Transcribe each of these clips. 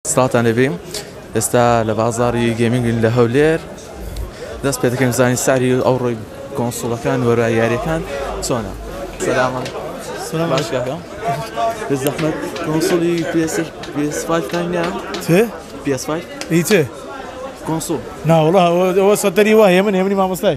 سڵاوتان لێ بێ ئێستا لە بازاری گەمینگین لە هەولێر دەست پێ دەکەین زانین ساری ئەو ڕۆی کۆنسوڵەکان وەرای یاریەکان چۆنە سەلامان سلام باش کاکە بە زەحمەت کۆنسوڵی PS PS5 کانیا چێ PS5 هیچێ کۆنسوڵ ناوەڵا ئەوە سەتەری وایە من هێمنی مامۆستای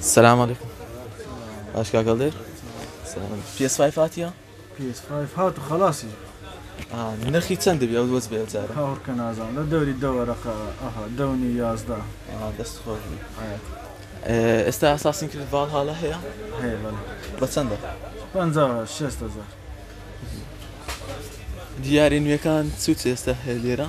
سلام علیکم باش کاکە دێر پێس فایف هاتیە پێس فایف هات و خلاصی نرخی چەند دەبی ئەو دۆز بێ جارە هاوڕکە نازان لە دەوری دەوەرەقە ئەها دەونی یازدە دەست خۆش ئێستا ئاساسین کرد باڵ هاڵە هەیە هەیە بە چەندە پ شێست هزار دیارە نوێەکان سووت ئێستا هەیە لێرە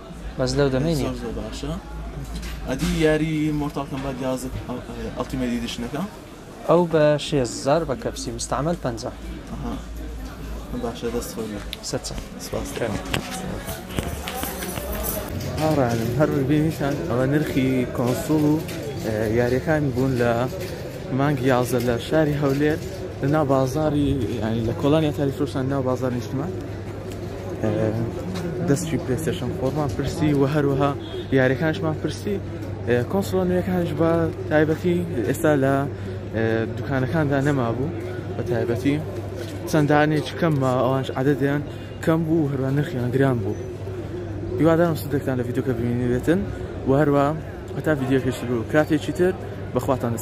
بەس لەو دەمەی نیە. زۆر زۆر باشە ئەدی یاری مۆرتاڵ کەمبات یازدە ئەڵتیمەیت ئیدیشنەکە. ئەو بە شێست هەزار بە کەپسی مستعمل پەنجا. ئەها باشە دەست خۆش بێت. ست سەد سپاس هاوڕێیانم هەر وەک بینیتان ئەوە نرخی کۆنسوڵ و یاریەکان بوون لە مانگی یازدە لە شاری هەولێر لە ناو بازاری ینی لە کۆڵانی ئەتاری فرۆشتان ناو بازار نیشتمان دەستی پلستشم خۆمان پرسی و هەروەها یاریەکانشمان پرسی کۆنسڵۆ نوێەکانش بە تایبەتی ئێستا لە دوکانەکاندا نەما بوو بە تایبەتی چەندانێک کەم ئەوانش عادەدیان کەم بوو هەروە نرخیان گران بوو هیوادارم سودێکتان لە ڤیددیوکە ببینێتن و هەروە هەتا ڤیددیوکەش بوو کاتێکی تر بەخواتان دەست